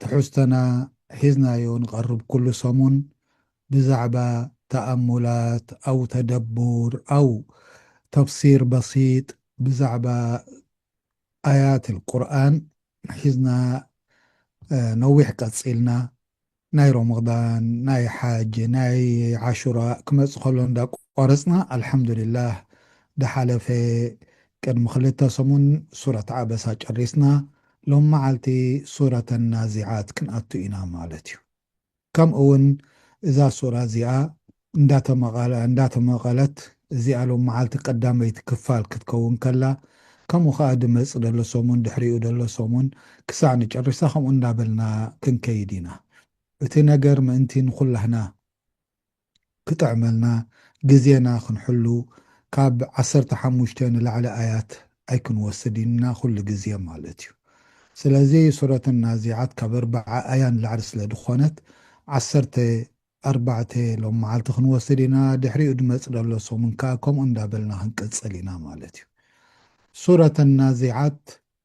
ትሕዝቶና ሒዝናዮ ንቐርብ ኩሉ ሰሙን ብዛዕባ ተኣሙላት ኣው ተደቡር ኣው ተፍሲር በሲጥ ብዛዕባ ኣያት ኣልቁርኣን ሒዝና ነዊሕ ቀጺልና ናይ ሮሞዳን ናይ ሓጅ ናይ ዓሹራ ክመጽእ ከሎ እንዳ ቆረጽና ኣልሓምዱሊላህ ድሓለፈ ቅድሚ ክልተ ሰሙን ሱረት ዓበሳ ጨሪስና ሎሚ መዓልቲ ሱረተ ናዚዓት ክንኣቱ ኢና ማለት እዩ። ከምኡ ውን እዛ ሱራ እዚኣ እንዳተመቐለት እዚኣ ሎሚ መዓልቲ ቀዳመይቲ ክፋል ክትከውን ከላ ከምኡ ከኣ ድመጽእ ደሎ ሰሙን ድሕሪኡ ደሎ ሰሙን ክሳዕ ንጨርሳ ከምኡ እንዳበልና ክንከይድ ኢና እቲ ነገር ምእንቲ ንኹላህና ክጥዕመልና ግዜና ክንሕሉ ካብ ዓሰርተ ሓሙሽተ ንላዕሊ ኣያት ኣይክንወስድ ኢና ኩሉ ግዜ ማለት እዩ ስለዚ ሱረት ናዚዓት ካብ ኣርባዓ ኣያ ንላዕሊ ስለ ድኾነት ዓሰርተ ኣርባዕተ ሎምዓልቲ ክንወስድ ኢና ድሕሪኡ ድመጽ ደሎ ሰሙን ከኣ ከምኡ እንዳበልና ክንቅጽል ኢና ማለት እዩ ሱረት ናዚዓት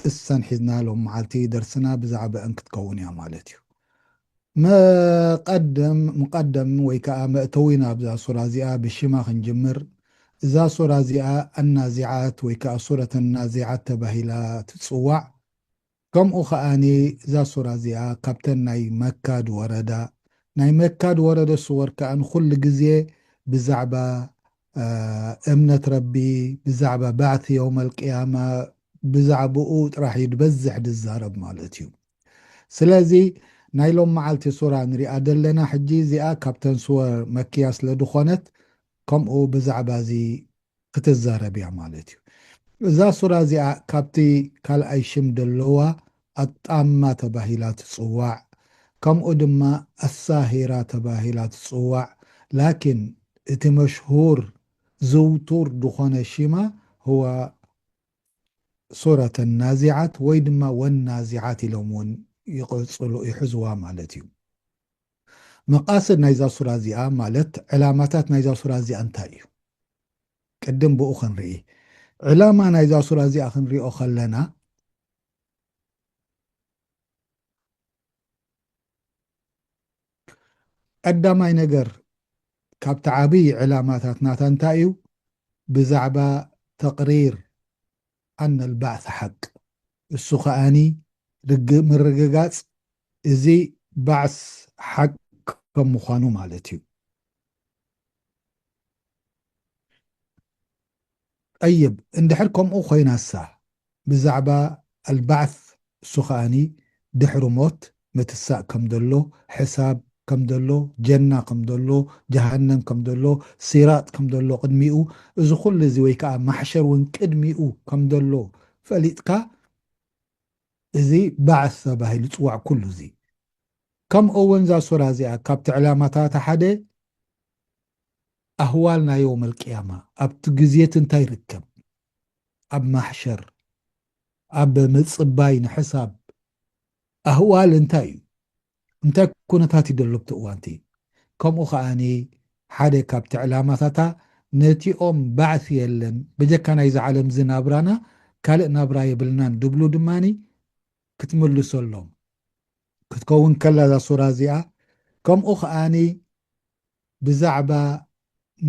ጥሰን ሒዝና ሎም መዓልቲ ደርስና ብዛዕበእን ክትከውን እያ ማለት እዩ። መቀድም፣ ምቀደም፣ ወይ ከኣ መእተዊ ናብዛ ሱራ እዚኣ ብሽማ ክንጅምር፣ እዛ ሱራ እዚኣ ኣናዚዓት ወይ ከኣ ሱረት ኣናዚዓት ተባሂላ ትጽዋዕ፣ ከምኡ ከኣኒ እዛ ሱራ እዚኣ ካብተን ናይ መካ ድወረዳ፣ ናይ መካ ድወረደ ሱወር ከኣ ንኹሉ ግዜ ብዛዕባ እምነት ረቢ ብዛዕባ ባዕቲ የውመል ቅያማ ብዛዕብኡ ጥራሕ እዩ ድበዝሕ ድዛረብ ማለት እዩ ስለዚ ናይ ሎም መዓልቲ ሱራ ንሪኣ ደለና ሕጂ እዚኣ ካብተን ሱወር መክያ ስለ ድኾነት ከምኡ ብዛዕባ እዚ ክትዛረብ እያ ማለት እዩ እዛ ሱራ እዚኣ ካብቲ ካልኣይ ሽም ደለዋ ኣጣማ ተባሂላ ትጽዋዕ ከምኡ ድማ ኣሳሂራ ተባሂላ ትጽዋዕ ላኪን እቲ መሽሁር ዝውቱር ድኾነ ሺማ ሁዋ ሱረተ ናዚዓት ወይ ድማ ወናዚዓት ኢሎም እውን ይቕጽሉ ይሕዝዋ ማለት እዩ። መቓስድ ናይዛ ሱራ እዚኣ ማለት ዕላማታት ናይዛ ሱራ እዚኣ እንታይ እዩ ቅድም ብኡ ክንርኢ ዕላማ ናይዛ ሱራ እዚኣ ክንሪኦ ከለና ቀዳማይ ነገር ካብቲ ዓብይ ዕላማታት ናታ እንታይ እዩ ብዛዕባ ተቅሪር ኣን ኣልባዕስ ሓቅ እሱ ከኣኒ ርግ ምርግጋፅ እዚ ባዕስ ሓቅ ከም ምኳኑ ማለት እዩ። ጠይብ እንድሕር ከምኡ ኮይናሳ ብዛዕባ ኣልባዕስ እሱ ከኣኒ ድሕሪ ሞት ምትሳእ ከምደሎ ሕሳብ ከምደሎ ጀና ከምደሎ ጀሃነም ከምደሎ ሲራጥ ከምደሎ ቅድሚኡ እዚ ኩሉ እዚ ወይ ከኣ ማሕሸር ውን ቅድሚኡ ከምደሎ ፈሊጥካ እዚ ባዕስ ተባሂሉ ይጽዋዕ ኩሉ እዚ ከምኡ ውን እዛ ሱራ እዚኣ ካብቲ ዕላማታታ ሓደ ኣህዋል ናይ ዮመል ቅያማ ኣብቲ ግዜቲ እንታይ ይርከብ ኣብ ማሕሸር ኣብ ምጽባይ ንሕሳብ ኣህዋል እንታይ እዩ እንታይ ኩነታት እዩ ዘሎ ኣብቲ እዋንቲ ከምኡ ከኣኒ ሓደ ካብቲ ዕላማታታ ነቲኦም ባዕሲ የለን በጀካ ናይዚ ዓለምዚ ናብራና ካልእ ናብራ የብልናን ድብሉ ድማ ክትምልሰሎም ክትከውን ከላ እዛ ሱራ እዚኣ ከምኡ ከኣኒ ብዛዕባ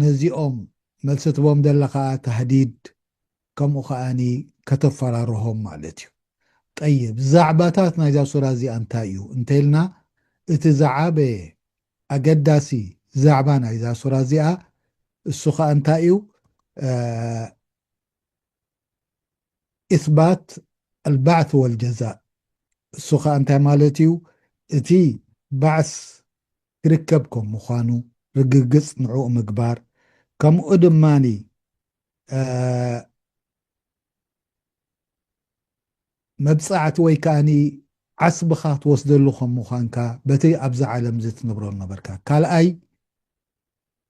ነዚኦም መልሲ ትቦም ደለኻ ታህዲድ ከምኡ ከኣኒ ከተፈራርሆም ማለት እዩ። ጠይብ ዛዕባታት ናይዛ ሱራ እዚኣ እንታይ እዩ እንተኢልና እቲ ዝዓበየ ኣገዳሲ ዛዕባ ናይዛ ሱራ እዚኣ እሱ ከኣ እንታይ እዩ? ኢስባት ኣልባዕስ ወልጀዛእ እሱ ኸኣ እንታይ ማለት እዩ? እቲ ባዕስ ክርከብ ከም ምዃኑ ርግግጽ ንዕኡ ምግባር ከምኡ ድማ መብጻዕቲ ወይ ከኣ ዓስብኻ ትወስደሉ ከም ምዃንካ በቲ ኣብዛ ዓለምዚ ትነብሮ ዝነበርካ ካልኣይ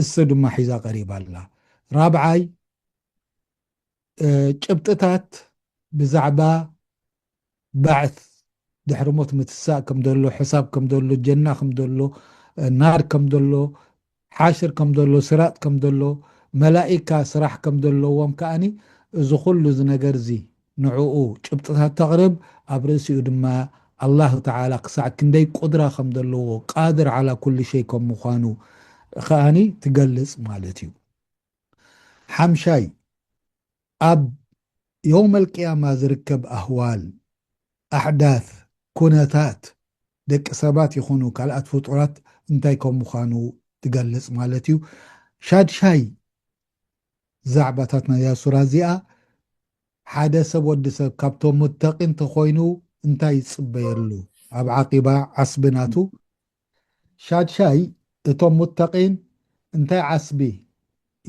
እሰ ድማ ሒዛ ቀሪባ ኣላ። ራብዓይ፣ ጭብጥታት ብዛዕባ ባዕት፣ ድሕሪ ሞት ምትሳእ ከም ዘሎ፣ ሕሳብ ከም ዘሎ፣ ጀና ከም ዘሎ፣ ናር ከም ዘሎ፣ ሓሽር ከም ዘሎ፣ ሲራጥ ከም ዘሎ፣ መላኢካ ስራሕ ከም ዘለዎም ከኣ እዚ ኩሉ እዚ ነገርዚ ንዕኡ ጭብጥታት ተቕርብ፣ ኣብ ርእሲኡ ድማ ኣላህ ተዓላ ክሳዕ ክንደይ ቁድራ ከም ዘለዎ፣ ቃድር ዓላ ኩሊ ሸይ ከም ምዃኑ፣ ከኣ ትገልጽ ማለት እዩ። ሓምሻይ፣ ኣብ የውመል ቂያማ ዝርከብ ኣህዋል፣ ኣሕዳት፣ ኩነታት፣ ደቂ ሰባት ይኹኑ ካልኣት ፍጡራት እንታይ ከም ምዃኑ ትገልጽ ማለት እዩ። ሻድሻይ፣ ዛዕባታት ናይዛ ሱራ እዚኣ ሓደ ሰብ ወዲ ሰብ ካብቶም ሙተቂን ተኾይኑ እንታይ ይጽበየሉ ኣብ ዓቂባ ዓስቢ ናቱ ሻድሻይ እቶም ሙተቂን እንታይ ዓስቢ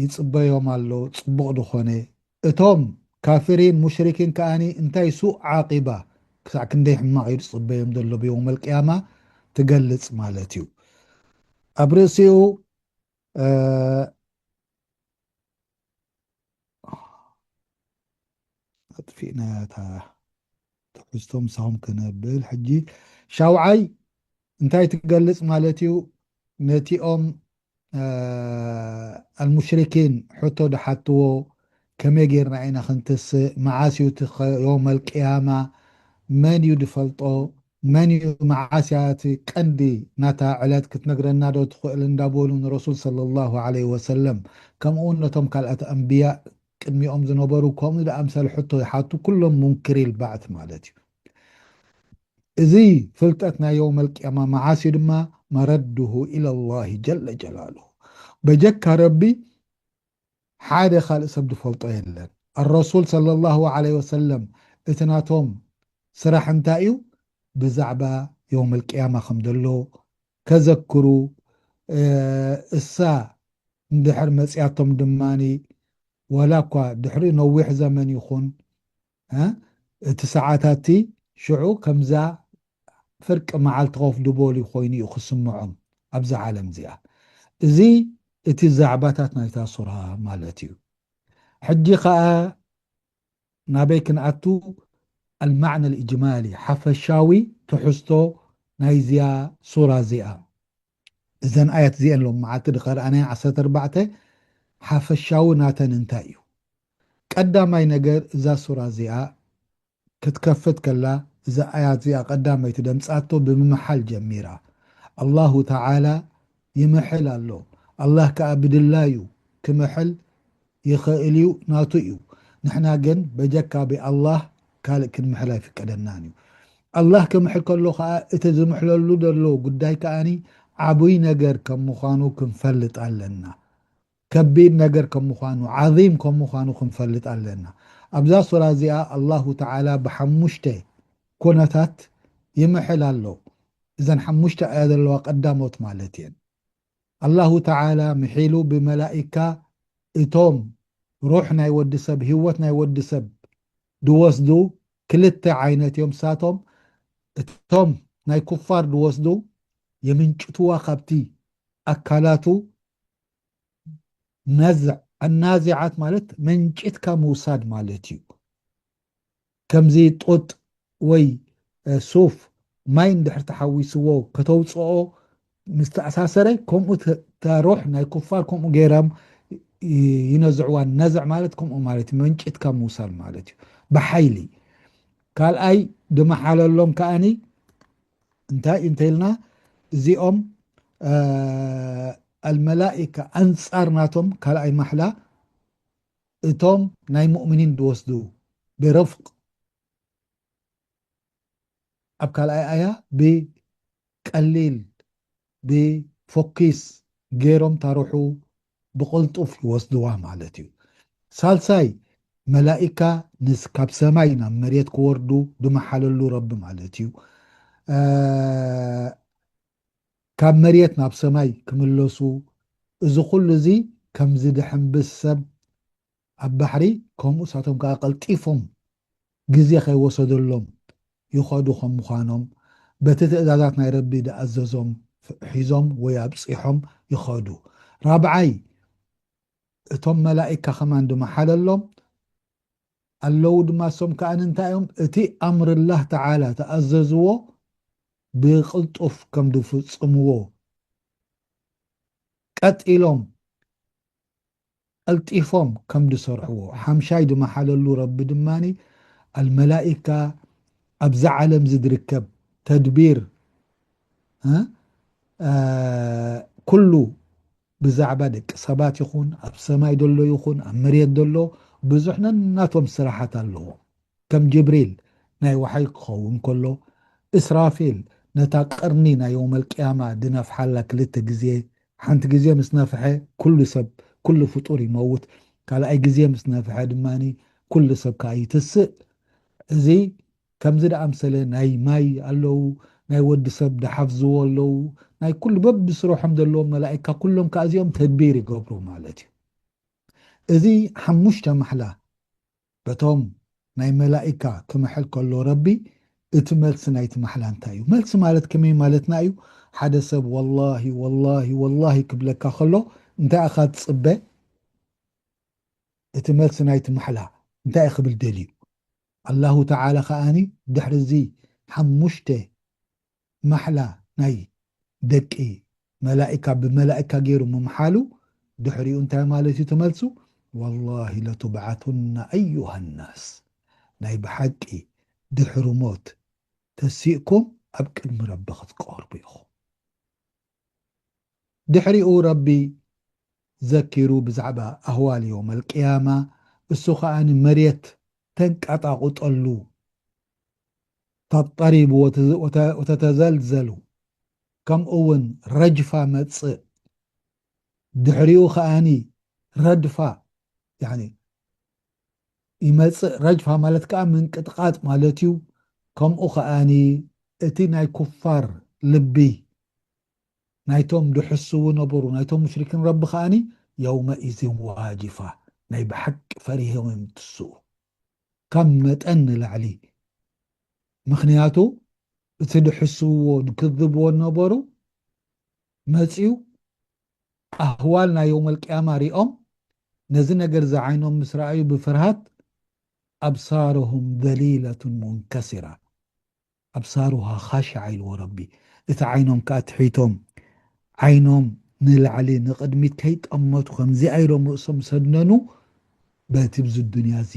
ይጽበዮም ኣሎ ጽቡቅ ድኾነ እቶም ካፊሪን ሙሽሪኪን ከኣኒ እንታይ ሱእ ዓቂባ ክሳዕ ክንደይ ሕማቅ እዩ ዝጽበዮም ዘሎ ብዮውመል ቅያማ ትገልጽ ማለት እዩ ኣብ ርእሲኡ ኣጥፊእናያ እታ ትሕዝቶ ምሳኹም ክነብል ሕጂ ሻውዓይ እንታይ ትገልጽ ማለት እዩ ነቲኦም ኣልሙሽሪኪን ሕቶ ድሓትዎ ከመይ ጌርና ኢና ክንትስእ መዓስ እዩ እቲ ዮመል ቅያማ መን እዩ ድፈልጦ መን እዩ መዓስ እያ እቲ ቀንዲ ናታ ዕለት ክትነግረና ዶ ትኽእል እንዳበሉ ንረሱል ሰለሏሁ ዓለይሂ ወሰለም ከምኡውን ነቶም ካልኣት ኣንብያእ ቅድሚኦም ዝነበሩ ከምኡ ዝኣምሰለ ሕቶ ይሓቱ ኩሎም ሙንክሪል ባዕት ማለት እዩ እዚ ፍልጠት ናይ የውመል ቅያማ መዓስ እዩ ድማ መረዱሁ ኢለሏሂ ጀለ ጀላሉሁ በጀካ ረቢ ሓደ ካልእ ሰብ ዝፈልጦ የለን ኣረሱል ሰለሏሁ ዓለይሂ ወሰለም እቲ ናቶም ስራሕ እንታይ እዩ ብዛዕባ የውመል ቂያማ ከም ዘሎ ከዘክሩ እሳ እንድሕር መጺኣቶም ድማ ዋላኳ ድሕሪኡ ነዊሕ ዘመን ይኹን እቲ ሰዓታትቲ ሽዑ ከምዛ ፍርቂ መዓልቲ ኮፍ ድበሉ ኮይኑ እዩ ክስምዖም ኣብዛ ዓለም እዚኣ እዚ እቲ ዛዕባታት ናይታ ሱራ ማለት እዩ ሕጂ ከኣ ናበይ ክንኣቱ ኣልማዕነ ልእጅማሊ ሓፈሻዊ ትሕዝቶ ናይዚኣ ሱራ እዚኣ እዘን ኣያት እዚኤን ሎሚ መዓልቲ ድከርኣናየን ዓሰርተ ኣርባዕተ ሓፈሻዊ ናተን እንታይ እዩ ቀዳማይ ነገር እዛ ሱራ እዚኣ ክትከፍት ከላ እዛ ኣያት እዚኣ ቀዳመይቲ ደምጻቶ ብምምሓል ጀሚራ ኣላሁ ተዓላ ይምሕል ኣሎ ኣላህ ከኣ ብድላዩ ክምሕል ይኽእል እዩ ናቱ እዩ ንሕና ግን በጀካ ብኣላህ ካልእ ክንምሕል ኣይፍቀደናን እዩ ኣላህ ክምሕል ከሎ ከኣ እቲ ዝምሕለሉ ዘሎ ጉዳይ ከኣ ዓቡይ ነገር ከም ምዃኑ ክንፈልጥ ኣለና ከቢድ ነገር ከም ምዃኑ፣ ዓዚም ከም ምዃኑ ክንፈልጥ ኣለና። ኣብዛ ሱራ እዚኣ ኣላሁ ተዓላ ብሓሙሽተ ኩነታት ይምሕል ኣሎ። እዘን ሓሙሽተ ኣያ ዘለዋ ቀዳሞት ማለት እየን። ኣላሁ ተዓላ ምሒሉ ብመላኢካ እቶም ሩሕ ናይ ወዲ ሰብ፣ ህይወት ናይ ወዲ ሰብ ዝወስዱ ክልተ ዓይነት እዮም። ንሳቶም እቶም ናይ ኩፋር ዝወስዱ የምንጭቱዋ ካብቲ ኣካላቱ ነዝዕ ኣናዚዓት ማለት መንጭትካ ምውሳድ ማለት እዩ ከምዚ ጡጥ ወይ ሱፍ ማይ እንድሕር ተሓዊስዎ ከተውፅኦ ምስ ተኣሳሰረ ከምኡ ተሮሕ ናይ ኩፋር ከምኡ ገይሮም ይነዝዕዋ ነዝዕ ማለት ከምኡ ማለት እዩ መንጭትካ ምውሳድ ማለት እዩ ብሓይሊ ካልኣይ ድመሓለሎም ከዓኒ እንታይ እንተይልና እዚኦም ኣልመላኢካ ኣንጻር ናቶም ካልኣይ ማሕላ እቶም ናይ ሙእምኒን ዝወስዱ ብረፍቅ ኣብ ካልኣይ ኣያ ብቀሊል ብ ፎኪስ ገይሮም ታርሑ ብቕልጡፍ ይወስድዋ ማለት እዩ። ሳልሳይ መላኢካ ምስ ካብ ሰማይ ናብ መሬት ክወርዱ ድመሓለሉ ረቢ ማለት እዩ። ካብ መሬት ናብ ሰማይ ክምለሱ እዚ ኩሉ እዚ ከም ዝድሕንብስ ሰብ ኣብ ባሕሪ ከምኡ ንሳቶም ከኣ ቀልጢፎም ግዜ ከይወሰደሎም ይኸዱ ከም ምዃኖም በቲ ትእዛዛት ናይ ረቢ ዝኣዘዞም ሒዞም ወይ ኣብጺሖም ይኸዱ። ራብዓይ እቶም መላኢካ ከማን ድማ ሓለሎም ኣለዉ ድማ እሶም ከኣ እንታይ እዮም እቲ ኣምር ላህ ተዓላ ተኣዘዝዎ ብቅልጡፍ ከም ዝፍጽምዎ ቀጢሎም ቀልጢፎም ከም ድሰርሕዎ ሓምሻይ ድመሓለሉ ረቢ ድማ ኣልመላኢካ ኣብዛ ዓለምዚ ድርከብ ተድቢር ኩሉ ብዛዕባ ደቂ ሰባት ይኹን ኣብ ሰማይ ደሎ ይኹን ኣብ መሬት ደሎ ብዙሕ ነናቶም ስራሓት ኣለዎም ከም ጅብሪል ናይ ወሓይ ክኸውን ከሎ፣ እስራፊል ነታ ቀርኒ ናይ የውመልቅያማ ድነፍሓላ ክልተ ግዜ፣ ሓንቲ ግዜ ምስ ነፍሐ ኩሉ ሰብ ኩሉ ፍጡር ይመውት፣ ካልኣይ ግዜ ምስ ነፍሐ ድማ ኩሉ ሰብ ከኣ ይትስእ፣ እዚ ከምዚ ድኣምሰለ ናይ ማይ ኣለዉ፣ ናይ ወዲ ሰብ ድሓፍዝዎ ኣለዉ፣ ናይ ኩሉ በብስርሖም ዘለዎም መላኢካ ኩሎም ከኣ እዚኦም ተድቢር ይገብሩ ማለት እዩ። እዚ ሓሙሽተ ማሕላ በቶም ናይ መላኢካ ክምሕል ከሎ ረቢ እቲ መልሲ ናይቲ ማሕላ እንታይ እዩ መልሲ ማለት ከመይ ማለትና እዩ ሓደ ሰብ ወላሂ ወላሂ ወላሂ ክብለካ ከሎ እንታይ ኢኻ ትጽበ እቲ መልሲ ናይቲ ማሕላ እንታይ ክብል ደልዩ ኣላሁ ተዓላ ከኣ ድሕሪ እዚ ሓሙሽተ ማሕላ ናይ ደቂ መላኢካ ብመላኢካ ጌሩ ምምሓሉ ድሕሪኡ እንታይ ማለት እዩ ትመልሱ ዋላሂ ለቱብዓቱና ኣዩሃናስ ናይ ብሓቂ ድሕሪ ሞት ተሲእኩም ኣብ ቅድሚ ረቢ ክትቀርቡ ኢኹም ድሕሪኡ ረቢ ዘኪሩ ብዛዕባ ኣህዋል የውመል ቅያማ እሱ ከኣ መሬት ተንቀጣቑጠሉ ተቅተሪቡ ወተተዘልዘሉ ከምኡ ውን ረጅፋ መጽእ ድሕሪኡ ከኣኒ ረድፋ ያኒ ይመጽእ ረጅፋ ማለት ከኣ ምንቅጥቃጥ ማለት እዩ ከምኡ ከኣኒ እቲ ናይ ኩፋር ልቢ ናይቶም ድሕስው ነበሩ ናይቶም ሙሽሪኪን ረቢ ከኣኒ የውመኢዝን ዋጅፋ ናይ ብሓቂ ፈሪሆም እዮም ትስኡ ካብ መጠን ንላዕሊ ምኽንያቱ እቲ ድሕስውዎ ድክዝብዎ ነበሩ መጽዩ ኣህዋል ናይ የውመል ቅያማ ሪኦም ነዚ ነገር እዚ ዓይኖም ምስ ረኣዩ ብፍርሃት ኣብሳርሁም ዘሊለቱን ሙንከሲራ ኣብሳሩሃ ኻሽዓ ኢልዎ ረቢ እቲ ዓይኖም ከኣ ትሒቶም ዓይኖም ንላዕሊ ንቕድሚት ከይጠመቱ ከምዚኣ ኢሎም ርእሶም ሰነኑ በቲ ብዚ ዱንያ እዚ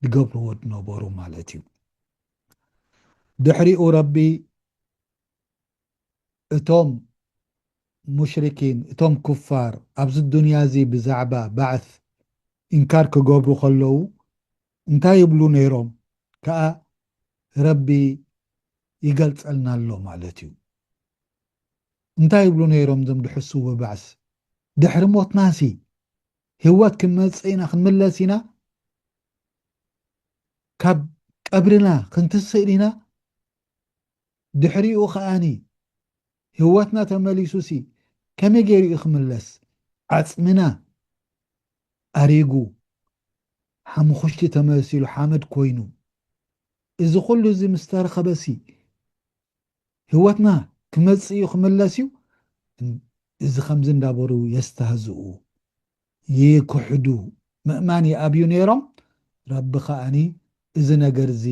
ድገብርዎ ድነበሩ ማለት እዩ ድሕሪኡ ረቢ እቶም ሙሽሪኪን እቶም ኩፋር ኣብዚ ዱንያ እዚ ብዛዕባ ባዕስ ኢንካር ክገብሩ ከለዉ እንታይ ይብሉ ነይሮም ከኣ ረቢ ይገልጸልና ኣሎ ማለት እዩ። እንታይ ይብሉ ነይሮም እዞም ድሕሱ ብባዕስ ድሕሪ ሞትናሲ ህወት ክንመጽእ ኢና ክንምለስ ኢና ካብ ቀብርና ክንትስእ ኢና ድሕሪኡ ከኣኒ ህወትና ተመሊሱ ሲ ከመይ ገይሩ እዩ ክምለስ ዓጽምና ኣሪጉ ሓሙኹሽቲ ተመሲሉ ሓመድ ኮይኑ እዚ ኩሉ እዚ ምስ ተረኸበ ሲ ህወትና ክመጽእ እዩ ክምለስ እዩ እዚ ከምዚ እንዳበሩ የስተህዝኡ ይክሕዱ ምእማን ይኣብዩ ነይሮም፣ ረቢ ከኣ እዚ ነገር እዚ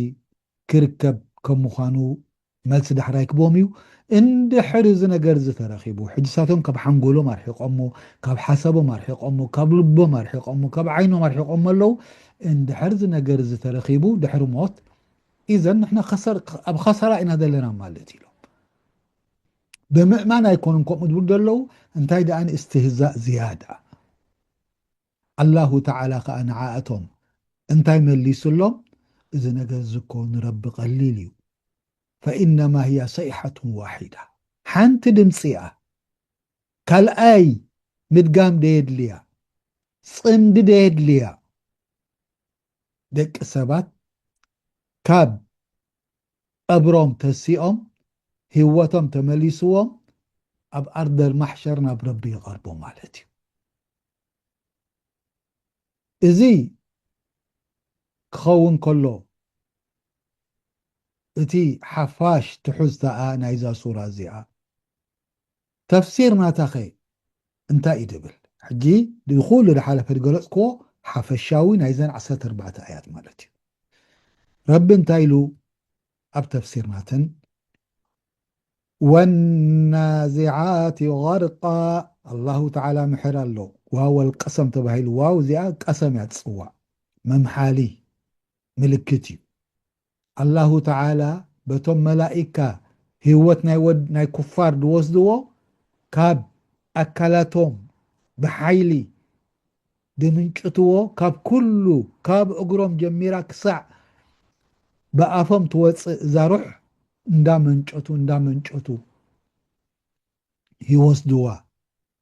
ክርከብ ከም ምዃኑ መልሲ ዳሕራይ ክቦም እዩ፣ እንድሕር እዚ ነገር እዚ ተረኺቡ ሕጂ እሳቶም ካብ ሓንጎሎም ኣርሒቆሞ፣ ካብ ሓሳቦም ኣርሒቆሞ፣ ካብ ልቦም ኣርሒቆሞ፣ ካብ ዓይኖም ኣርሒቆሞ ኣለዉ፣ እንድሕር እዚ ነገር እዚ ተረኺቡ ድሕሪ ሞት ኢዘን ንሕና ኣብ ኸሳራ ኢና ዘለና ማለት እዩ ኢሎም። ብምእማን ኣይኮኑን ከምኡ ዝብሉ ዘለዉ እንታይ ደኣ ንእስትህዛእ ዝያዳ ኣላሁ ተዓላ ከኣ ንዓኣቶም እንታይ መሊሱሎም እዚ ነገር እዚ እኮ ንረቢ ቀሊል እዩ ፈኢነማ ህያ ሰይሓቱን ዋሒዳ ሓንቲ ድምፂ እያ ካልኣይ ምድጋም ደየድልያ ፅምዲ ደየድልያ ደቂ ሰባት ካብ ቀብሮም ተሲኦም ሂወቶም ተመሊስዎም ኣብ ኣርደል ማሕሸር ናብ ረቢ ይቀርቡ ማለት እዩ እዚ ክኸውን ከሎ እቲ ሓፋሽ ትሑዝታኣ ናይዛ ሱራ እዚኣ ተፍሲር ናታኸ እንታይ እዩ ድብል? ሕጂ እዚ ኩሉ ድሓለፈ ድገለጽክዎ ሓፈሻዊ ናይዘን ዓሰርተ ኣርባዕተ ኣያት ማለት እዩ። ረቢ እንታይ ኢሉ ኣብ ተፍሲር ናተን? ወናዚዓቲ ገርቃ ኣላሁ ተዓላ ምሕር ኣሎ ዋወል ቀሰም ተባሂሉ ዋው እዚኣ ቀሰም እያ ትጽዋዕ መምሓሊ ምልክት እዩ ኣላሁ ተዓላ በቶም መላኢካ ህይወት ናይ ወድ ናይ ኩፋር ዝወስድዎ ካብ ኣካላቶም ብሓይሊ ዝምንጭትዎ ካብ ኩሉ ካብ እግሮም ጀሚራ ክሳዕ ብኣፎም ትወጽእ እዛ ሩሕ እንዳመንጨቱ እንዳመንጨቱ ይወስድዋ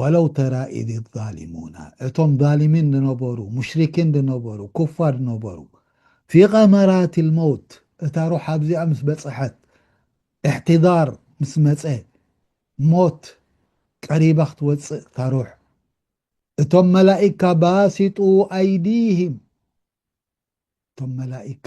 ወለው ተራ ኢዝ ዛሊሙና እቶም ዛሊሚን ዝነበሩ ሙሽሪኪን ዝነበሩ ኩፋር ዝነበሩ ፊ ቐመራቲል መውት እታ ሩሕ ኣብዚኣ ምስ በጽሐት ኢሕቲዳር ምስ መጸ ሞት ቀሪባ ክትወጽእ እታ ሩሕ እቶም መላኢካ ባሲጡ ኣይዲሂም እቶም መላኢካ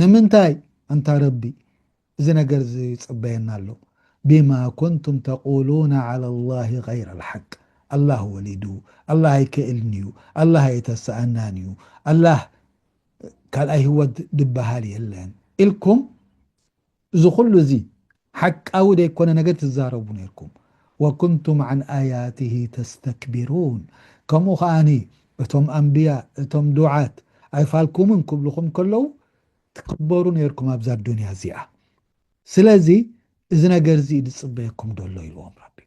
ንምንታይ ኣንታ ረቢ እዚ ነገር እዚ ይጽበየና ኣሎ ቢማ ኩንቱም ተቁሉነ ዓላ ላሂ ገይረ ልሓቅ ኣላህ ወሊዱ ኣላህ ኣይክእልን እዩ ኣላህ ኣይተሰኣናን እዩ ኣላህ ካልኣይ ሂወት ድበሃል የለን ኢልኩም እዚ ኩሉ እዚ ሓቃዊ ደይኮነ ነገር ትዛረቡ ነርኩም ወኩንቱም ዓን ኣያትሂ ተስተክቢሩን ከምኡ ከኣኒ እቶም ኣንብያ እቶም ዱዓት ኣይፋልኩምን ክብሉኩም ከለዉ ትክበሩ ነርኩም ኣብዛ ኣዱንያ እዚኣ ስለዚ እዚ ነገር እዚ ድጽበየኩም ደሎ ኢልዎም ረቢ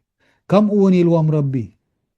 ከምኡ ውን ኢልዎም ረቢ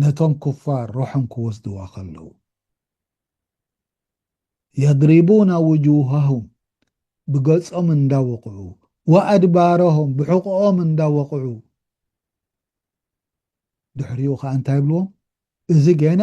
ነቶም ኩፋር ሩሖም ክወስድዋ ከለዉ። የድሪቡና ውጁሃሁም ብገጾም እንዳ ወቕዑ ወኣድባረሁም ብሕቖኦም እንዳ ወቕዑ ድሕሪኡ ከኣ እንታይ ይብልዎም እዚ ገና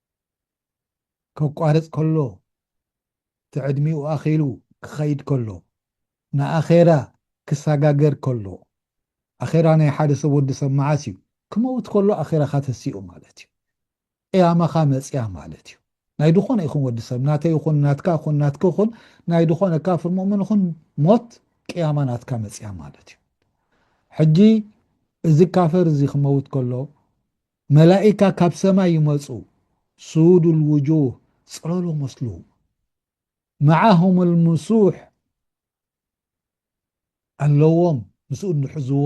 ከቋርጽ ከሎ እቲ ዕድሚኡ ኣኺሉ ክኸይድ ከሎ ንኣኼራ ክሳጋገር ከሎ ኣኼራ ናይ ሓደ ሰብ ወዲ ሰብ መዓስ እዩ ክመውት ከሎ ኣኼራኻ ተሲኡ ማለት እዩ ቅያማኻ መጽያ ማለት እዩ ናይ ድኾነ ይኹን ወዲ ሰብ ናተይ ይኹን ናትካ ይኹን ናትክ ይኹን ናይ ድኾነ ካፍር ሙእምን ይኹን ሞት ቅያማ ናትካ መጽያ ማለት እዩ ሕጂ እዚ ካፈር እዚ ክመውት ከሎ መላኢካ ካብ ሰማይ ይመጹ ሱዉዱ ልዉጁህ ጽለሎ መስሉ መዓሁም ልምሱሕ ኣለዎም ምስ እድ ሕዝዎ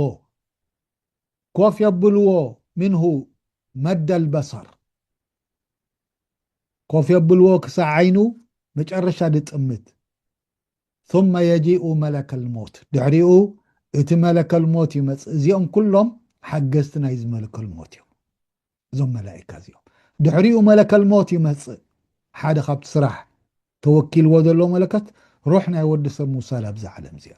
ኮፍ የብልዎ ምንሁ መደል በሰር ኮፍ የብልዎ ክሳዕ ዓይኑ መጨረሻ ድጥምት ثم የጂኡ መለከል ሞት ድሕሪኡ እቲ መለከል ሞት ይመጽእ እዚኦም ኩሎም ሓገዝቲ ናይዚ መለከል ሞት እዮም እዞም መላኢካ እዚኦም ድሕሪኡ መለከል ሞት ይመጽእ ሓደ ካብቲ ስራሕ ተወኪልዎ ዘሎ መለከት ሩሕ ናይ ወዲ ሰብ ምውሳድ ኣብዛ ዓለም እዚኣ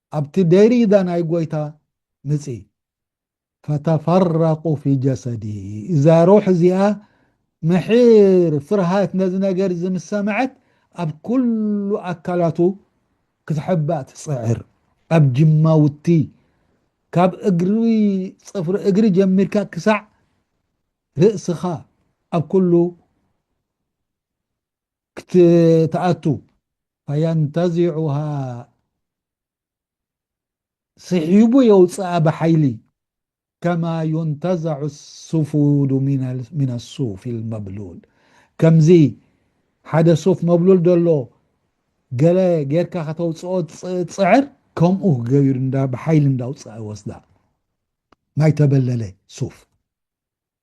ኣብቲ ደሪዳ ናይ ጎይታ ምጺ ፈተፈረቁ ፊ ጀሰዲሂ እዛ ሩሕ እዚኣ ምሒር ፍርሃት ነዚ ነገር እዚ ምስ ሰምዐት ኣብ ኩሉ ኣካላቱ ክትሕባእ ትጽዕር ኣብ ጅማውቲ ካብ እግሪ ጽፍሪ እግሪ ጀሚርካ ክሳዕ ርእስኻ ኣብ ኩሉ ክትኣቱ ፈየንተዚዑሃ ስሒቡ የውጽኣ ብሓይሊ ከማ ዩንተዘዑ ሱፉዱ ሚነ ሱፊ ልመብሉል ከምዚ ሓደ ሱፍ መብሉል ዘሎ ገለ ጌርካ ከተውጽኦ ትጽዕር ከምኡ ገቢሩ እንዳ ብሓይሊ እንዳውጽኣ ይወስዳ ማይ ተበለለ ሱፍ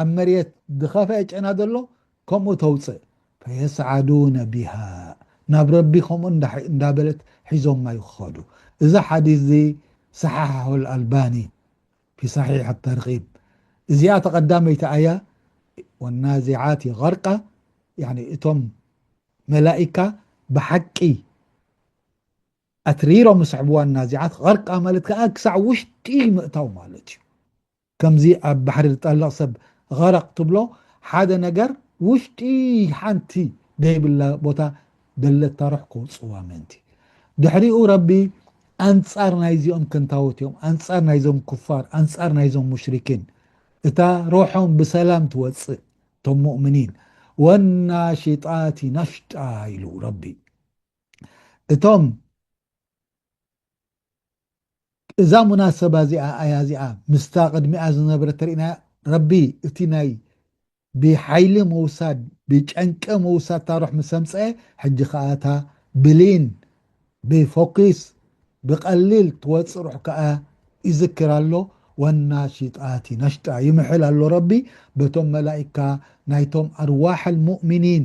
ኣብ መሬት ዝኸፍኣ ጨና ዘሎ ከምኡ ተውጽእ ፈየስዓዱነ ቢሃ ናብ ረቢ ከምኡ እንዳበለት ሒዞማ ይኸዱ እዚ ሓዲስ እዚ ሰሓሓሁ ኣልኣልባኒ ፊ ሰሒሕ ኣተርጊብ እዚኣ እታ ቀዳመይቲ ኣያ ወናዚዓቲ ገርቃ ያኒ እቶም መላኢካ ብሓቂ ኣትሪሮም ይስሕብዋ ናዚዓት ገርቃ ማለት ከኣ ክሳዕ ውሽጢ ምእታው ማለት እዩ ከምዚ ኣብ ባሕሪ ዝጠልቕ ሰብ ቐረቕ ትብሎ ሓደ ነገር ውሽጢ ሓንቲ ደይብላ ቦታ ደለታ ሩሕ ከውጽዋ ምእንቲ ድሕሪኡ ረቢ ኣንጻር ናይዚኦም ከንታዎት እዮም ኣንጻር ናይዞም ኩፋር ኣንጻር ናይዞም ሙሽሪኪን እታ ሩሖም ብሰላም ትወጽእ እቶም ሙእምኒን ወናሽጣቲ ነሽጣ ኢሉ ረቢ እቶም እዛ ሙናሰባ እዚኣ ኣያ እዚኣ ምስታ ቅድሚኣ ዝነበረት ተሪእና ረቢ እቲ ናይ ብሓይሊ ምውሳድ ብጨንቂ ምውሳድ ታሩሕ ምስ ኣምጸ ሕጂ ከኣ እታ ብሊን ብፎኪስ ብቀሊል ትወጽእ ሩሕ ከኣ ይዝክር ኣሎ ወናሺጣቲ ነሽጣ ይምሕል ኣሎ ረቢ በቶም መላኢካ ናይቶም ኣርዋሕ ኣልሙእሚኒን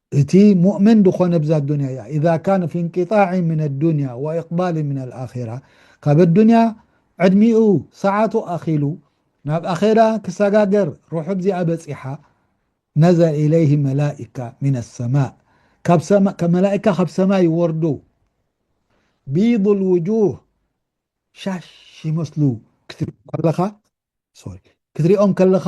እቲ ሙእምን ድኾነ እብዛ ኣዱንያ እያ ኢዛ ካነ ፊ እንቂጣዒን ሚን ኣዱንያ ወኢቅባሊን ሚን ኣልኣኼራ ካብ ኣዱንያ ዕድሚኡ ሰዓቱ ኣኺሉ ናብ ኣኼራ ክሰጋገር ሩሑ ዚኣ በጺሓ ነዘለ ኢለይህ መላኢካ ሚን ኣሰማእ መላኢካ ካብ ሰማይ ይወርዱ ቢዱ ልውጁህ ሻሽ ይመስሉ ክትሪኦም ከለኻ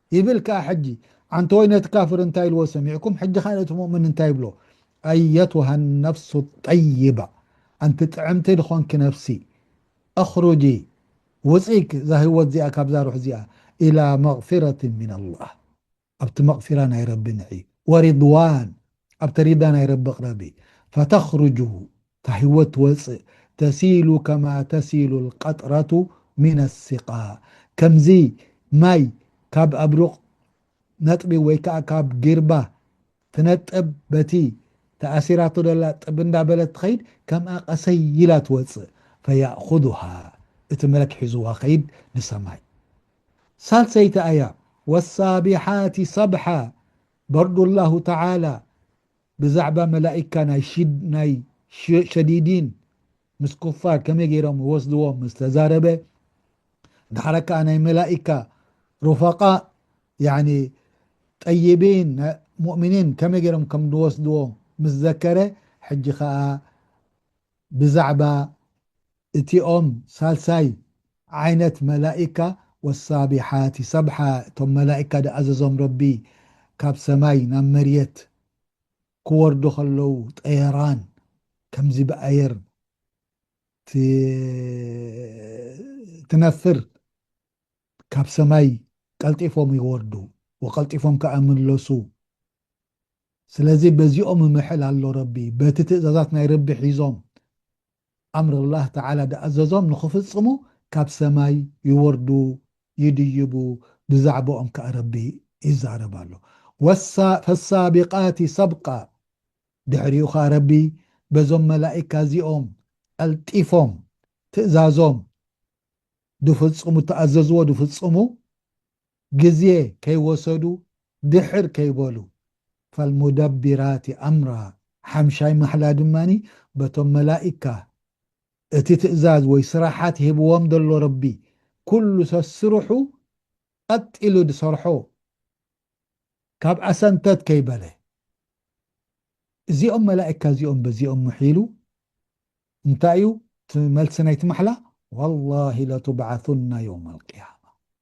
ይብል ክኣ ሕጂ ዓንተወይ ነቲ ካፍር እንታይ ኢልዎ ሰሚዕኩም ሕጂ ከኣ ነቲ ሙእምን እንታይ ይብሎ ኣየቱሃ ነፍሱ ጠይባ ኣንቲ ጥዕምቲ ድኾንኪ ነፍሲ ኣኽሩጂ ውጺ እዛ ህይወት እዚኣ ካብዛ ሩሕ እዚኣ ኢላ መግፊረትን ሚን ኣላህ ኣብቲ መግፊራ ናይ ረቢ ንዒ ወሪድዋን ኣብቲ ሪዳ ናይ ረቢ ቅረቢ ፈተኽሩጁ እታ ህይወት ትወጽእ፣ ተሲሉ ከማ ተሲሉ ኣልቀጥረቱ ሚነ ኣሲቃ፣ ከምዚ ማይ ካብ ኣብ ሩቕ ነጥቢ ወይ ከኣ ካብ ጊርባ ትነጥብ በቲ ተኣሲራቶ ዘላ ጥብ እንዳ በለት ትኸይድ ከምኣ ቀሰይ ኢላ ትወጽእ፣ ፈየእኹዙሃ፣ እቲ መለክ ሒዙዋ ኸይድ ንሰማይ። ሳልሰይቲ ኣያ፣ ወሳቢሓቲ ሰብሓ፣ በርዱ ኣላሁ ተዓላ፣ ብዛዕባ መላኢካ ናይ ሽድ ናይ ሸዲዲን ምስ ኩፋር ከመይ ጌሮም ይወስድዎም ምስ ተዛረበ ዳሕራ ከኣ ናይ መላኢካ ሩፋቃእ ያኒ ጠይቢን ናይ ሙእሚኒን ከመይ ጌሮም ከም ዝወስድዎ ምስ ዘከረ ሕጂ ከኣ ብዛዕባ እቲኦም ሳልሳይ ዓይነት መላኢካ ወሳቢሓቲ ሰብሓ እቶም መላኢካ ድኣዘዞም ረቢ ካብ ሰማይ ናብ መርየት ክወርዱ ከለዉ ጠየራን ከምዚ ብኣየር ትነፍር ካብ ሰማይ ቀልጢፎም ይወርዱ ወቀልጢፎም ከኣ ምለሱ ስለዚ በዚኦም ምሕል ኣሎ ረቢ በቲ ትእዛዛት ናይ ረቢ ሒዞም ኣምር ኣላህ ተዓላ ዝኣዘዞም ንኽፍጽሙ ካብ ሰማይ ይወርዱ ይድይቡ ብዛዕባኦም ከኣ ረቢ ይዛረብ ኣሎ ፈሳቢቃቲ ሰብቃ ድሕሪኡ ከኣ ረቢ በዞም መላኢካ እዚኦም ቀልጢፎም ትእዛዞም ድፍጽሙ እተኣዘዝዎ ድፍጽሙ ግዜ ከይወሰዱ ድሕር ከይበሉ ፈልሙደቢራቲ ኣምራ ሓምሻይ ማሕላ ድማ በቶም መላኢካ እቲ ትእዛዝ ወይ ስራሓት ሂብዎም ዘሎ ረቢ ኩሉ ሰስርሑ ቀጥ ኢሉ ድሰርሖ ካብኣ ሰንተት ከይበለ እዚኦም መላኢካ እዚኦም በዚኦም ምሒሉ እንታይ እዩ እቲ መልሲ ናይቲ ማሕላ ዋላሂ ለቱብዓሱና የውመልቅያማ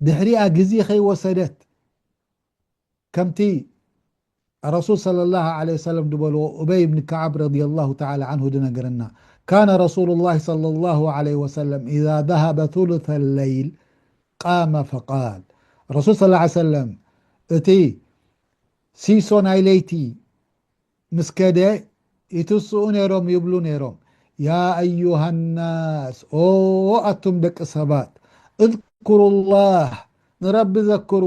ድሕሪኣ ግዜ ከይወሰደት ከምቲ ረሱል ሰለላሁ ዓለይሂ ወሰለም ዝበልዎ ኡበይ ብን ከዓብ ረዲየላሁ ተዓላ ዓንሁ ዝነገረና ካነ ረሱሉላሂ ሰለላሁ ዓለይሂ ወሰለም ኢዛ ዘሀበ ሱሉሰ ለይል ቃመ ፈቃል ረሱል ሰለላሁ ዓለይሂ ወሰለም እቲ ሲሶ ናይ ለይቲ ምስ ከደ ይትስኡ ነይሮም ይብሉ ነይሮም ያ ኣዩሃናስ ኦ ኣቱም ደቂ ሰባት እዝኩሩላህ ንረቢ ዘክሩ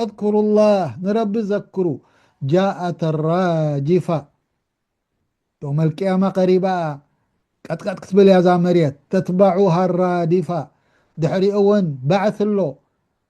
እዝኩሩላህ ንረቢ ዘክሩ ጃኣት ራጂፋ ዮመልቅያማ ቀሪባ እያ ቀጥቀጥ ክትብል እያ እዛ መሬት ተትባዑሃ ራዲፋ ድሕሪኡ እውን ባዕሲ ኣሎ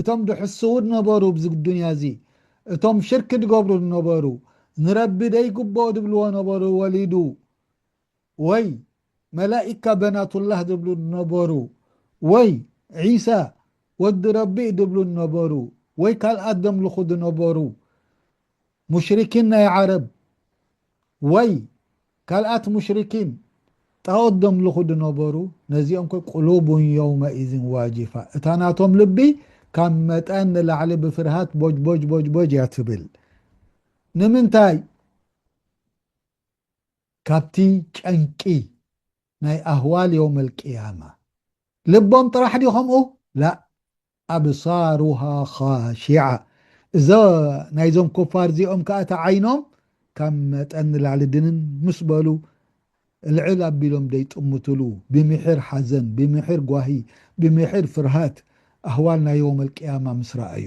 እቶም ድሕስዉ ድነበሩ ብዚ ዱንያ እዚ እቶም ሽርክ ድገብሩ ድነበሩ ንረቢ ደይግቦኦ ድብልዎ ነበሩ ወሊዱ ወይ መላኢካ በናቱላህ ድብሉ ድነበሩ ወይ ዒሳ ወዲ ረቢ ድብሉ ድነበሩ ወይ ካልኣት ደምልኹ ድነበሩ ሙሽሪኪን ናይ ዓረብ ወይ ካልኣት ሙሽሪኪን ጣኦት ደምልኹ ድነበሩ ነዚኦም ከ ቁሉቡን የውመኢዝን ዋጂፋ እታ ናቶም ልቢ ካብ መጠን ንላዕሊ ብፍርሃት ቦጅቦጅቦጅቦጅ እያ ትብል ንምንታይ ካብቲ ጨንቂ ናይ ኣህዋል የውመል ቅያማ ልቦም ጥራሕ ድዩ ከምኡ ላእ ኣብሳሩሃ ኻሺዓ እዞ ናይዞም ኩፋር እዚኦም ከኣ እቲ ዓይኖም ካብ መጠን ንላዕሊ ድንን ምስ በሉ ልዕል ኣቢሎም ደይጥምትሉ ብምሒር ሓዘን ብምሒር ጓሂ ብምሒር ፍርሃት ኣህዋል ናይ የውመል ቅያማ ምስ ረኣዩ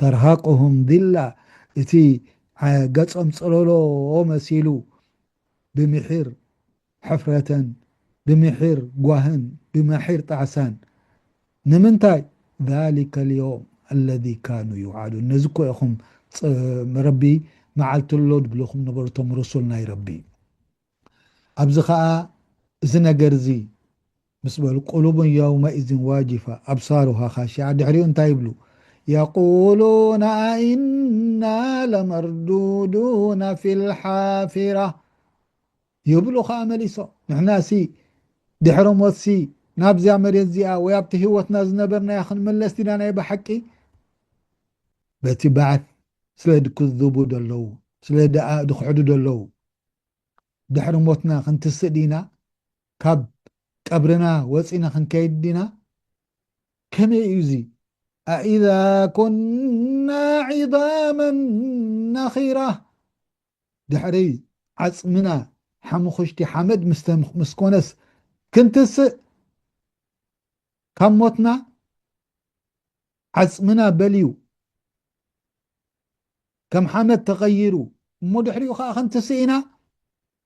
ተርሃቅሁም ዚላ እቲ ገጾም ጽለሎ መሲሉ ብምሒር ሕፍረተን ብምሒር ጓህን ብማሒር ጣዕሳን ንምንታይ ዛሊከል ዮውም ኣለዚ ካኑ ዩዓዱን ነዚ እኮ ኢኹም ረቢ መዓልቲ ኣሎ ድብልኹም ነበሩ እቶም ሩሱል ናይ ረቢ ኣብዚ ከኣ እዚ ነገር እዚ ምስ በሉ ቁሉቡን የውመኢዝን ዋጂፋ፣ ኣብሳሩሃ ኻሺዓ፣ ድሕሪኡ እንታይ ይብሉ? የቁሉነ ኣኢና ለመርዱዱነ ፊል ሓፊራ ይብሉ ኸኣ መሊሶም፣ ንሕናሲ ድሕሪ ሞትሲ ናብዚኣ መሬት እዚኣ ወይ ኣብቲ ህይወትና ዝነበርናያ ክንምለስ ዲና ናይ ብሓቂ? በቲ ባዕት ስለ ድክዝቡ ደለዉ፣ ስለ ድክሕዱ ደለዉ፣ ድሕሪ ሞትና ክንትስእ ዲና? ካብ ቀብርና ወጺና ክንከይድ ዲና ከመይ እዩ እዚ ኣኢዛ ኩና ዒዛመ ነኺራ ድሕሪ ዓጽምና ሓሙኽሽቲ ሓመድ ምስ ኮነስ ክንትስእ ካብ ሞትና ዓጽምና በልዩ ከም ሓመድ ተቐይሩ እሞ ድሕሪኡ ከዓ ክንትስእ ኢና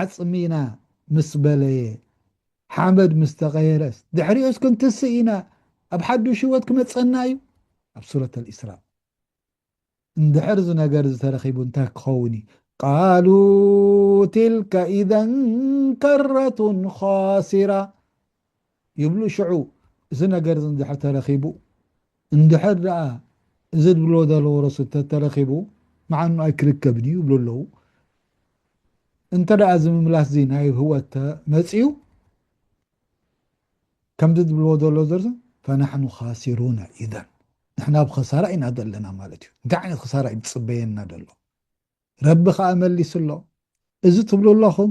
ዓጽሚና ምስ በለየ፣ ሓመድ ምስ ተቐየረስ፣ ድሕሪኡስ ክንትስእ ኢና፣ ኣብ ሓዱሽ ህይወት ክመጸና እዩ። ኣብ ሱረት ኣልኢስራእ እንድሕር እዚ ነገር እዚ ተረኺቡ እንታይ ክኸውን እዩ? ቃሉ ትልከ ኢዘን ከረቱን ኻሲራ ይብሉ ሽዑ እዚ ነገር እዚ እንድሕር ተረኺቡ እንድሕር ደኣ እዚ ዝብልዎ ዘለዉ ረሱ እንተተረኺቡ ምዓኑ ኣይክርከብን እዩ ይብሉ ኣለዉ እንተ ደኣ እዚ ምምላስ እዚ ናይ ህወት ተመጺኡ ከምዚ ዝብልዎ ዘሎ ዘርሱ ፈናሕኑ ካሲሩና ኢዘን ንሕና ብ ኸሳራ ኢና ዘለና ማለት እዩ እንታይ ዓይነት ክሳራ እዩ ዝፅበየና ዘሎ ረቢ ከዓ መሊሱ ኣሎ እዚ ትብሉ ኣለኹም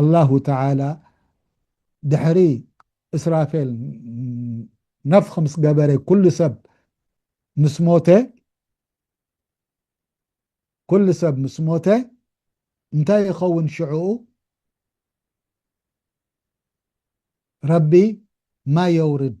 ኣላሁ ተዓላ ድሕሪ እስራፌል ነፍኽ ምስ ገበረ ኩሉ ሰብ ምስ ሞተ ኩሉ ሰብ ምስ ሞተ እንታይ ይኸውን ሽዕኡ ረቢ ማይ የውርድ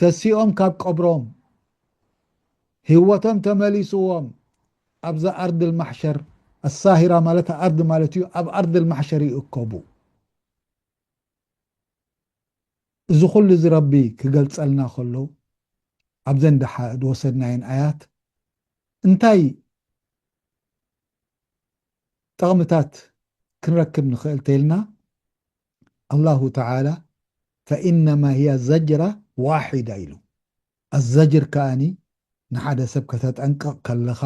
ተሲኦም ካብ ቀብሮም ሂወቶም ተመሊስዎም ኣብዛ ኣርድል ማሕሸር ኣሳሂራ ማለት ኣርዲ ማለት እዩ ኣብ ኣርድል ማሕሸር ይእከቡ። እዚ ኩሉ እዚ ረቢ ክገልጸልና ከሎ ኣብዘን ደሓ ዝወሰድናየን ኣያት እንታይ ጠቕምታት ክንረክብ ንኽእል ተይልና ኣላሁ ተዓላ ፈኢነማ ሂየ ዘጅራ ዋሒዳ ኢሉ። ኣዘጅር ከኣ ንሓደ ሰብ ከተጠንቅቕ ከለኻ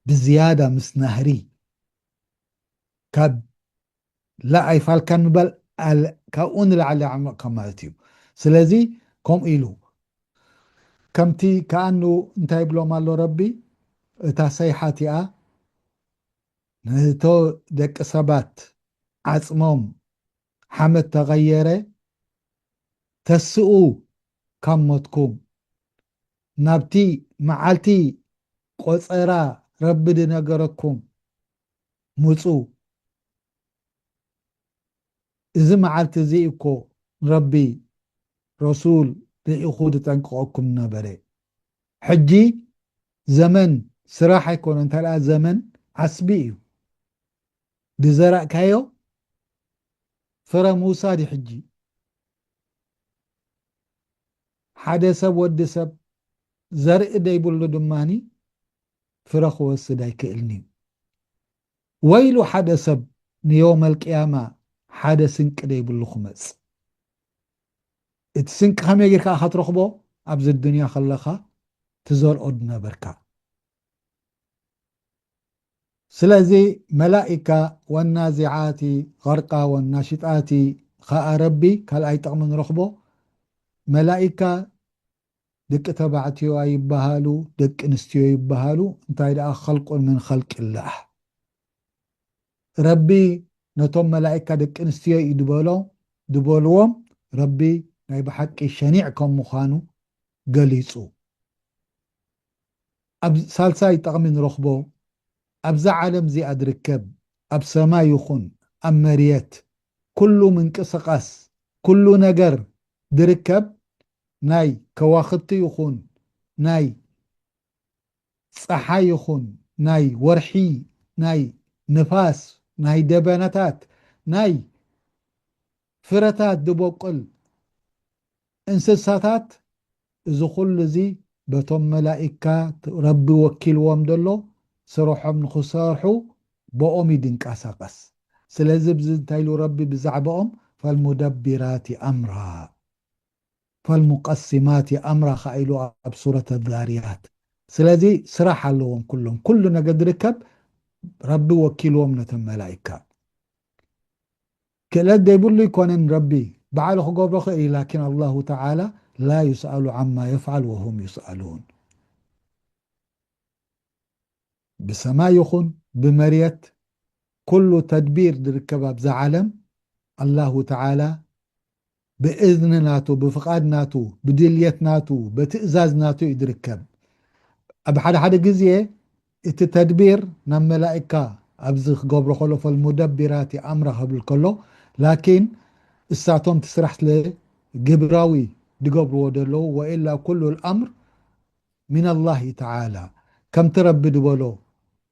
ብዝያዳ ምስ ናህሪ ካብ ላእ ኣይፋልካን ምባል ካብኡ ንላዕሊ ኣዕሚቕካ ማለት እዩ። ስለዚ ከምኡ ኢሉ። ከምቲ ከኣ እንታይ ይብሎም ኣሎ ረቢ እታ ሰይሓ እቲኣ ንህቶ ደቂ ሰባት ዓጽሞም ሓመድ ተቐየረ ተስኡ ካብ ሞትኩም ናብቲ መዓልቲ ቆጸራ ረቢ ድነገረኩም ምጹ እዚ መዓልቲ እዚ እኮ ንረቢ ረሱል ልኢኹ ድጠንቅቐኩም ነበረ ሕጂ ዘመን ስራሕ ኣይኮነን እንተድኣ ዘመን ዓስቢ እዩ ድዘራእካዮ ፍረ ምውሳድ እዩ ሕጂ ሓደ ሰብ ወዲ ሰብ ዘርኢ ደይብሉ ድማኒ ፍረ ክወስድ ኣይክእልን እዩ ወይሉ ሓደ ሰብ ንዮመልቅያማ ሓደ ስንቂ ደይብሉ ክመጽ እቲ ስንቂ ከመይ ጌርካ ኢኻ ትረኽቦ ኣብዚ ኣዱንያ ከለኻ ትዘርኦ ዝነበርካ ስለዚ መላኢካ ወናዚዓቲ ገርቃ ወናሺጣቲ ኸኣ ረቢ ካልኣይ ጥቕሚ ንረኽቦ መላኢካ ደቂ ተባዕትዮ ኣይብሃሉ ደቂ ኣንስትዮ ይብሃሉ እንታይ ደኣ ኸልቁን ምን ኸልቂላህ። ረቢ ነቶም መላኢካ ደቂ ኣንስትዮ እዩ ድበሎ ድበልዎም ረቢ ናይ ብሓቂ ሸኒዕ ከም ምዃኑ ገሊጹ። ኣብ ሳልሳይ ጠቕሚ ንረኽቦ ኣብዛ ዓለም እዚኣ ድርከብ ኣብ ሰማይ ይኹን ኣብ መርየት ኩሉ ምንቅስቓስ ኩሉ ነገር ድርከብ ናይ ከዋኽብቲ ይኹን ናይ ጸሓይ ይኹን ናይ ወርሒ ናይ ንፋስ ናይ ደበናታት ናይ ፍረታት ድበቁል እንስሳታት እዚ ኩሉ እዚ በቶም መላኢካ ረቢ ወኪልዎም ደሎ ስርሖም ንኽሰርሑ ቦኦም እዩ ድንቃሳቀስ ስለዚ ብዚ እንታይ ኢሉ ረቢ ብዛዕባኦም ፈልሙደቢራቲ ኣምራ። ፈልሙቀሲማቲ ኣምራ ከኣ ኢሉ ኣብ ሱረት ኣዛርያት ስለዚ ስራሕ ኣለዎም ኩሎም ኩሉ ነገ ዝርከብ ረቢ ወኪልዎም ነቶም መላኢካ ክእለት ዘይብሉ ኣይኮነን ረቢ ባዕሉ ክገብሮ ክእል እዩ ላኪን ኣላሁ ተዓላ ላ ዩስኣሉ ዓማ የፍዓል ወሁም ዩስኣሉን ብሰማይ ይኹን ብመርየት ኩሉ ተድቢር ዝርከብ ኣብዛ ዓለም ኣላሁ ተዓላ ብእዝኒ ናቱ፣ ብፍቓድ ናቱ፣ ብድልየት ናቱ፣ በትእዛዝ ናቱ እዩ ዝርከብ። ኣብ ሓደ ሓደ ግዜ እቲ ተድቢር ናብ መላኢካ ኣብዚ ክገብሮ ከሎ ፈልሙደቢራቲ ኣምራ ክብል ከሎ ላኪን እሳቶም እቲ ስራሕ ስለ ግብራዊ ዝገብርዎ ዘለዉ ወኢላ ኩሉ ኣምር ሚነላሂ ተዓላ ከምቲ ረቢ ዝበሎ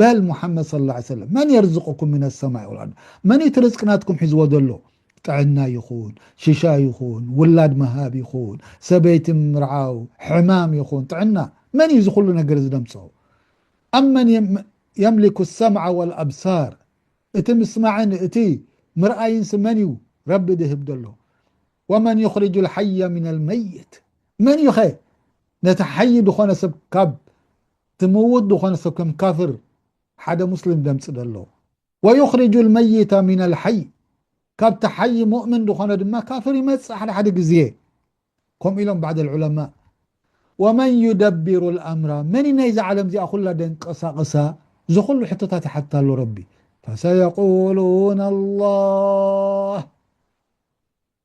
በል ሙሓመድ ሰለላሁ ዓለይሂ ወሰለም መን የርዝቁኩም ሚነ ሰማኢ ወልኣርድ መንዩ እቲ ርዝቂ ናትኩም ሒዝዎ ዘሎ ጥዕና ይኹን ሽሻ ይኹን ውላድ ምሃብ ይኹን ሰበይቲ ምርዓው ሕማም ይኹን ጥዕና መንዩ እዚ ኩሉ ነገር እዚ ደምፅኦ ኣመን የምሊኩ ሰምዓ ወልኣብሳር እቲ ምስማዕን እቲ ምርኣይንሲ መንዩ ረቢ ድህብ ዘሎ ወመን ዩኽርጁ ልሓየ ሚን ልመይት መንዩኸ ነቲ ሓይ ዝኾነ ሰብ ካብ ዝምውት ዝኾነ ሰብ ከም ካፍር ሓደ ሙስሊም ዘምጽእ ዘሎ ወዩኽሪጁል መይተ ሚነል ሓይ ካብቲ ሓይ ሙእምን ዝኾነ ድማ ካፍር ይመጽእ ሓደ ሓደ ግዜ ከምኡ ኢሎም ባዕድ ልዑለማእ ወመን ዩደቢሩ ልኣምራ መን እዩ ናይዛ ዓለም እዚኣ ኩላ ደንቀሳቕሳ እዚ ኩሉ ሕቶታት ይሓትት ኣሎ ረቢ ፈሰየቁሉን ኣላህ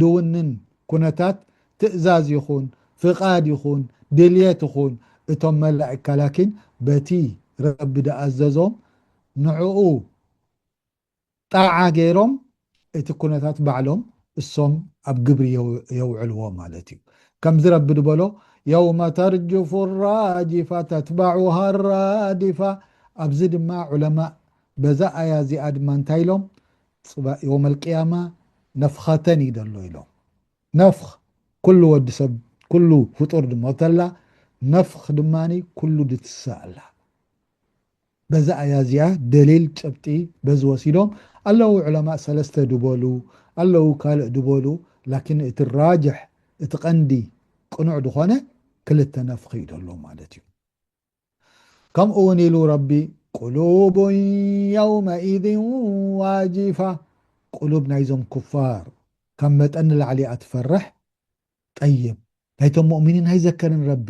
ድውንን ኩነታት ትእዛዝ ይኹን ፍቓድ ይኹን ድልየት ይኹን እቶም መላኢካ ላኪን በቲ ረቢ ድኣዘዞም ንዕኡ ጣዓ ገይሮም እቲ ኩነታት ባዕሎም እሶም ኣብ ግብሪ የውዕልዎ ማለት እዩ ከምዚ ረቢ ድበሎ የውመ ተርጅፉ ራጅፋ ተትባዑሃ ራድፋ ኣብዚ ድማ ዑለማእ በዛ ኣያ እዚኣ ድማ እንታይ ኢሎም ጽባእ ዮመል ቅያማ ነፍኸተን እዩ ዘሎ ኢሎም። ነፍኽ ኩሉ ወዲ ሰብ ኩሉ ፍጡር ድሞተ ኣላ ነፍኽ ድማ ኩሉ ድትስእ ኣላ። በዛ ኣያ እዚኣ ደሊል ጭብጢ በዚ ወሲዶም ኣለው ዑለማእ ሰለስተ ድበሉ ኣለው ካልእ ድበሉ ላኪን እቲ ራጅሕ እቲ ቀንዲ ቅኑዕ ድኾነ ክልተ ነፍኽ እዩ ደሎ ማለት እዩ። ከምኡ ውን ኢሉ ረቢ ቁሉቡ የውመኢዝ ዋጂፋ ቁሉብ ናይዞም ኩፋር ካብ መጠን ንላዕሊ እያ ትፈርሕ ጠይብ ናይቶም ሙእሚኒን ኣይዘከርን ረቢ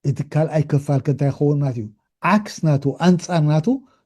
እቲ ካልኣይ ክፋል ከ እንታይ ክኸውን ማለት እዩ ዓክስ ናቱ ኣንጻር ናቱ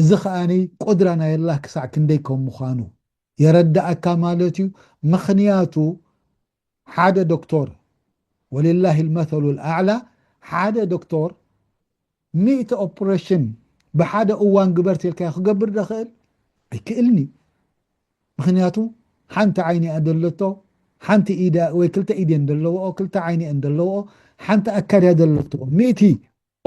እዚ ከኣ ቁድራ ናይ ኣላህ ክሳዕ ክንደይ ከም ምዃኑ የረደኣካ ማለት እዩ ምኽንያቱ ሓደ ዶክቶር ወሊላሂ ልመተሉ ልኣዕላ ሓደ ዶክቶር ሚእቲ ኦፕረሽን ብሓደ እዋን ግበር ተልካዮ ክገብር ደኽእል ኣይክእልን እዩ ምኽንያቱ ሓንቲ ዓይኒ እያ ዘለቶ ሓንቲ ኢዳ ወይ ክልተ ኢድ እየን ዘለዎኦ ክልተ ዓይኒ እየን ዘለዎኦ ሓንቲ ኣካል እያ ዘለቶ ሚእቲ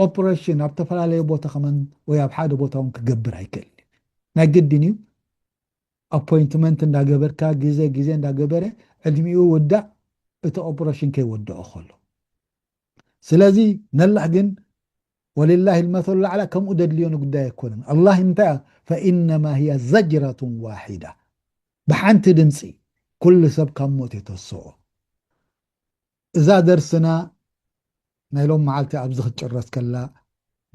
ኦፕረሽን ኣብ ተፈላለየ ቦታ ከማን ወይ ኣብ ሓደ ቦታ ውን ክገብር ኣይክእልን እዩ ናይ ግድን እዩ ኣፖይንትመንት እንዳገበርካ ግዘ ግዜ እንዳገበረ ዕድሚኡ ውዳእ እቲ ኦፕረሽን ከይወደኦ ከሎ ስለዚ ነላህ ግን ወልላሂ ልመሰሉ ላዕላ ከምኡ ደድልዮ ንጉዳይ ኣይኮነን ኣላ እንታይ ፈኢነማ ህያ ዘጅረቱን ዋሒዳ ብሓንቲ ድምፂ ኩሉ ሰብ ካብ ሞት የተስኦ እዛ ደርስና ናይ ሎም መዓልቲ ኣብዚ ክትጭረስ ከላ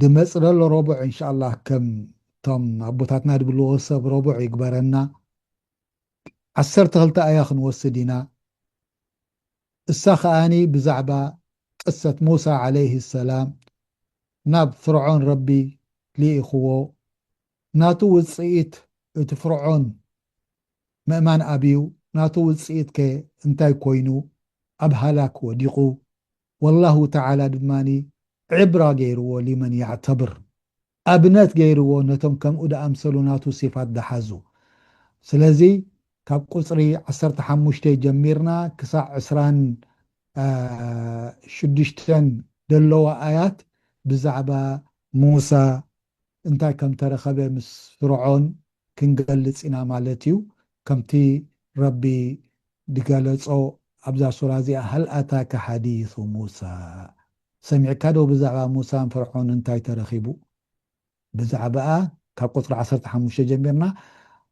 ድመጽለሎ ሮቡዕ እንሻኣላህ ከም ቶም ኣቦታትና ድብልዎ ሰብ ሮቡዕ ይግበረና ዓሰርተ ክልተ ኣያ ክንወስድ ኢና እሳ ከኣኒ ብዛዕባ ቅሰት ሙሳ ዓለይሂ ሰላም ናብ ፍርዖን ረቢ ሊኢክዎ ናቱ ውጽኢት እቲ ፍርዖን ምእማን ኣብዩ ናቱ ውጽኢት ከ እንታይ ኮይኑ ኣብ ሃላክ ወዲቁ ወላሁ ተዓላ ድማ ዕብራ ገይርዎ ሊመን የዕተብር ኣብነት ገይርዎ ነቶም ከምኡ ድኣምሰሉ ናቱ ሲፋት ድሓዙ ስለዚ ካብ ቁጽሪ ዓሰርተ ሓሙሽተ ጀሚርና ክሳዕ ዕስራን ሽዱሽተን ደለዋ ኣያት ብዛዕባ ሙሳ እንታይ ከም እተረኸበ ምስ ፍርዖን ክንገልጽ ኢና ማለት እዩ። ከምቲ ረቢ ዝገለጾ ኣብዛ ሱራ እዚኣ፣ ሀል ኣታከ ሐዲሱ ሙሳ፣ ሰሚዕካዶ ብዛዕባ ሙሳን ፍርዖንን እንታይ ተረኺቡ? ብዛዕባኣ ካብ ቁጽሪ ዓሰርተ ሓሙሽተ ጀሚርና